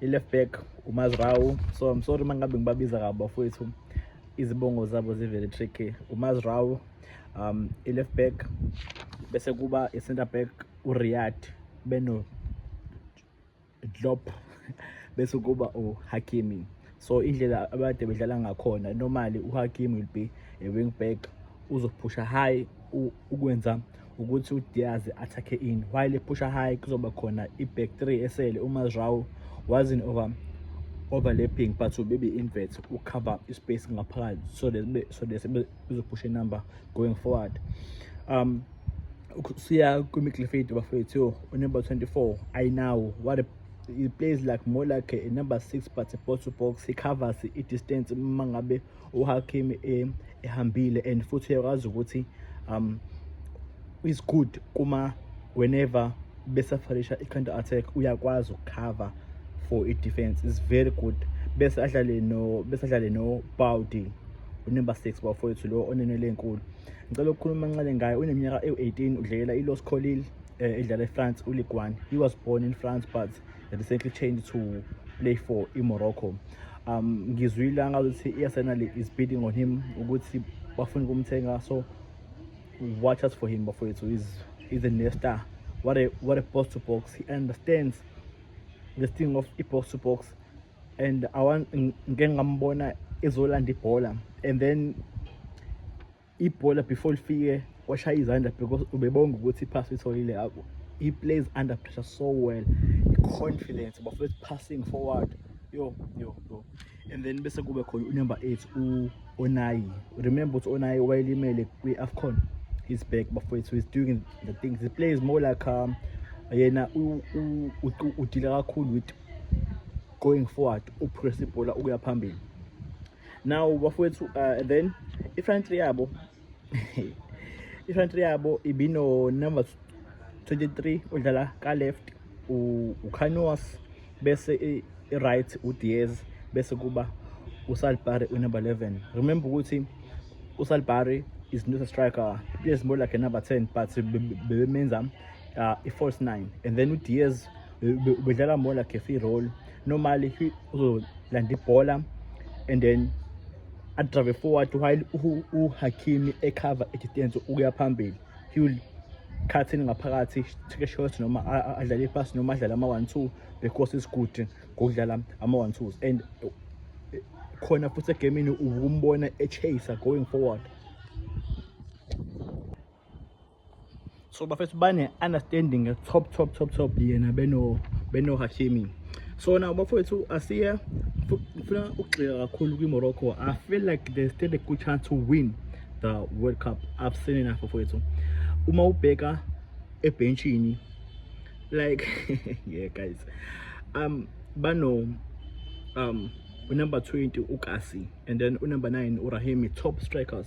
i-left back umazrawu so i'm sorry uma ngabe ngibabiza kabo bafowethu izibongo zabo zivele tricky umazrawu um i-left back bese kuba i-center back uriyad beno drop bese kuba uhakimi so indlela abade bedlala ngakhona normally uhakimi will be a wing back uzophusha high ukwenza ukuthi uDiaz athakhe in while ephusha high kuzoba khona i-back 3 esele uma Zhao was in over overlapping but ubibi invert ucover ispace ngaphakathi so that so that bezophusha inumber going forward um siya kwi-midfield bafethu unumber 24 i now what a he plays like more like a number 6 but a box to box he covers i-distance uma ngabe uHakim e, ehambile and futhi uyakwazi ukuthi um is good kuma whenever besafarisha i-counter attack uyakwazi ukukhava for i-defense is very good bese adlale no bese adlale no Baudi unumber 6 bafowethu lo onenele enkulu ngicela ukukhuluma kancane ngaye uneminyaka ewu-18 udlelela i-Los Colil eh, edlala e-France u-Ligue 1 he was born in France but recently changed to play for imorocco um ngizwile angazuthi i-arsenal is bidding on him ukuthi bafuna ukumthenga so watch us for him bafowethu he's, he's a nesta what a, what a box to box he understands the thing of i-box to box and ngike ngambona ezolanda ibhola and then ibhola before lifike washaya izandla because ubebonga ukuthi iphasi itholile yabo he plays under pressure so well i-confidence bafethu passing forward yo yo yo and then bese kube khona unumber 8 u-onayi remember ukuthi onayi wayelimele kwi-afcon he's back bafethu he's doing the things he plays more like um, yena udila kakhulu with going forward upress ibhola ukuya phambili now bafowethu uh, then ifront yabo ifront yabo ibino number 23 udlala ka left ucanos bese i-right udiez bese kuba usalbari unumber 11 remember ukuthi usalbari is not a striker he is more like a number 10 but bebemenza uh, i-false 9 and then udiez bedlala more like a free role normally he uzolanda ibhola and then adrive forward while uhakimi ecover idistance ukuya phambili he will cut in ngaphakathi take a shot noma adlale ipass noma adlale ama-one two because is good ngokudlala ama-one twos and eh, khona futhi egemini ukumbona echase going forward so bafethu bane-understanding top top top top yena benohashimi beno so now bafowethu asiye ngifuna ukugxila kakhulu kwi-morocco i feel like they stand a good chance to win the world cup i've seen enough bafowethu uma ubheka ebhentshini like yeah guys um bano um unumber 20 ukasi and then unumber 9 urahimi top strikers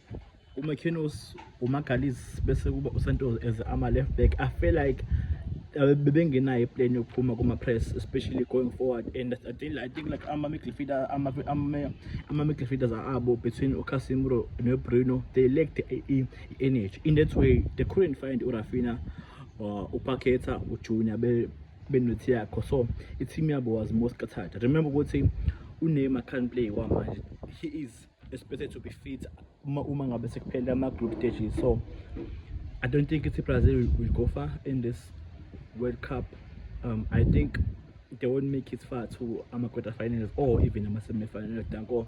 uMakinos uMagalis bese kuba uSantos as ama left back I feel like uh, bebengenayo iplan yokuphuma kuma-press especially going forward and I think, I think like ama-midfielder ama-midfielders abo between ucasimiro nobruno they lacked i-energy in that way they couldn't find urafina uh, upaketa ujunior benothiya yakho so i-team yabo was more scattered remember ukuthi uneymar can't play kwamanje he is It's better to be fit uma uma ngabe sekuphele ama group stages so I don't think it's Brazil will go far in this World Cup. Um, I think they won't make it far to ama quarterfinals or even ama semifinals. Danko.